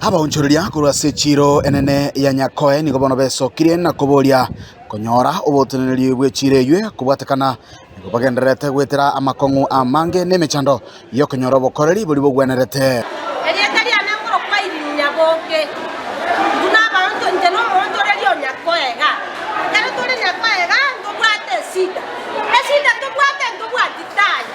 Abaonchoreria korwa ase echiiro enene ya Nyakoe nigo bono besokirie na koboria konyora oboteneneri bw'echiiro eyio kobwatekana. Nigo bagendererete goetera amakong'u amange na emechando y'okonyora obokoreri boria bogwenerete. Erieta riane nkorokwa iriinya boke, buna abaanto inche na omoonchoreria o Nyakoe iga. Ekero tore Nyakoe iga, ntobwate esida. Esida tobwate ntobwati taayo.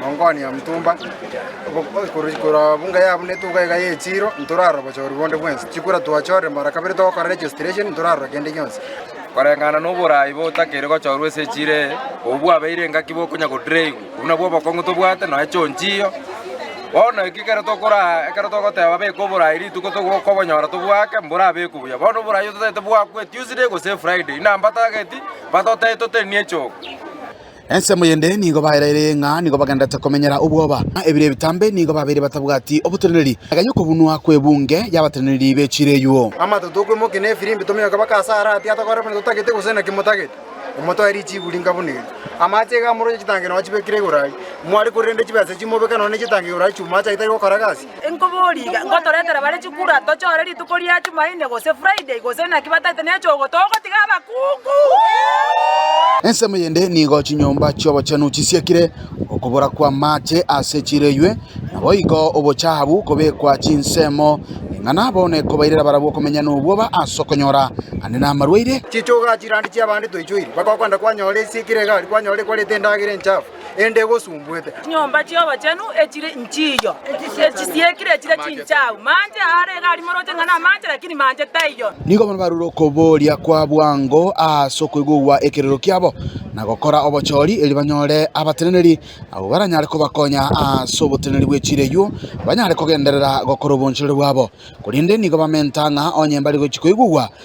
Mong'wane omotumba, korwa bunga yabunete iga iga y'echiiro, ntorarora obochooru bonde bwensi. Chikura twachoorire mara kabere togokora registration, ntorarora kende gionsi. Koreng'ana noboraai botakeire gochoorwa ase echiiro eye, obwo bwabeire engaki bokonya godraigwa. Obwo nabwo obokong'u tobwate, nonya chionchio. Bono eki ekero tokoraa, ekero togoteba beka oboraai rituko togokobonyora tobwake, mborabekwe buya. Bono oboraai oyo totaete bwakwe Tuesday gose Friday, inambatageti, batotebia totenenie echogo. Ensemo y'ende nigo baeraire ng'a nigo bagendererete komenyera obwoba, na ebiro ebitambe nigo babeire batabwati oboteneneri, agenya okobunwa kw'ebunge y'abateneneri be chireguo. Amato tokwimokia na efirimbi tominyoke mpaka ase aare atia tokore buna totagete gose naki motagete. Motoe richiburi inga buna eri. Amache iga amoroche chitangero achibekire igoro ayio. Mware korende chibesa echi mobeke nonya ne chitangero igoro ayio chi'omoacha itari gokora gasi. Inkobori iga, ngotoretera bare chikura tochore rituko ria Chumaine gose Friday, gose naki bataete nechogo, togotiga abakungu. Ensemo yende nigo chinyomba chi'obochenu chisiekire, okobora kw'amaache ase chireiywe, naboigo obochahabu kobekwa chinsemo, ing'ana bono ekobairera barabwo okomenya n'obwoba ase okonyora ande namarwaire. Chichuga chirandi chi'abande toichoiri, baka okwenda kwanyora esiekire egari, kwanyora ekwarete endagera enchafu. ende egosumbuete. Chinyomba chi'obochenu echire inchiyo, echisiekire echire chinchau, manche aare iga arimoroche ng'a namanche, lakini manche taiyo. Nigo bono barure okobooria kwa bwango ase okoigugwa ekerero kiabo, na gokora obochori, erio banyore abateneneri abwo baranyare kobakonya ase oboteneneri bwe chiira eyio, banyare kogenderera gokora obonchereri bwabo. Korende nigo bamenta ng'a onye mbare gochia koigugwa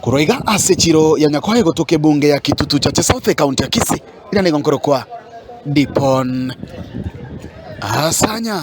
Korwa iga ase echiro ya Nyakoha egotoka ebunge ya Kitutu Chache South ekaunti ya Kisii ira nigo nkorokwa Dipon Asanya.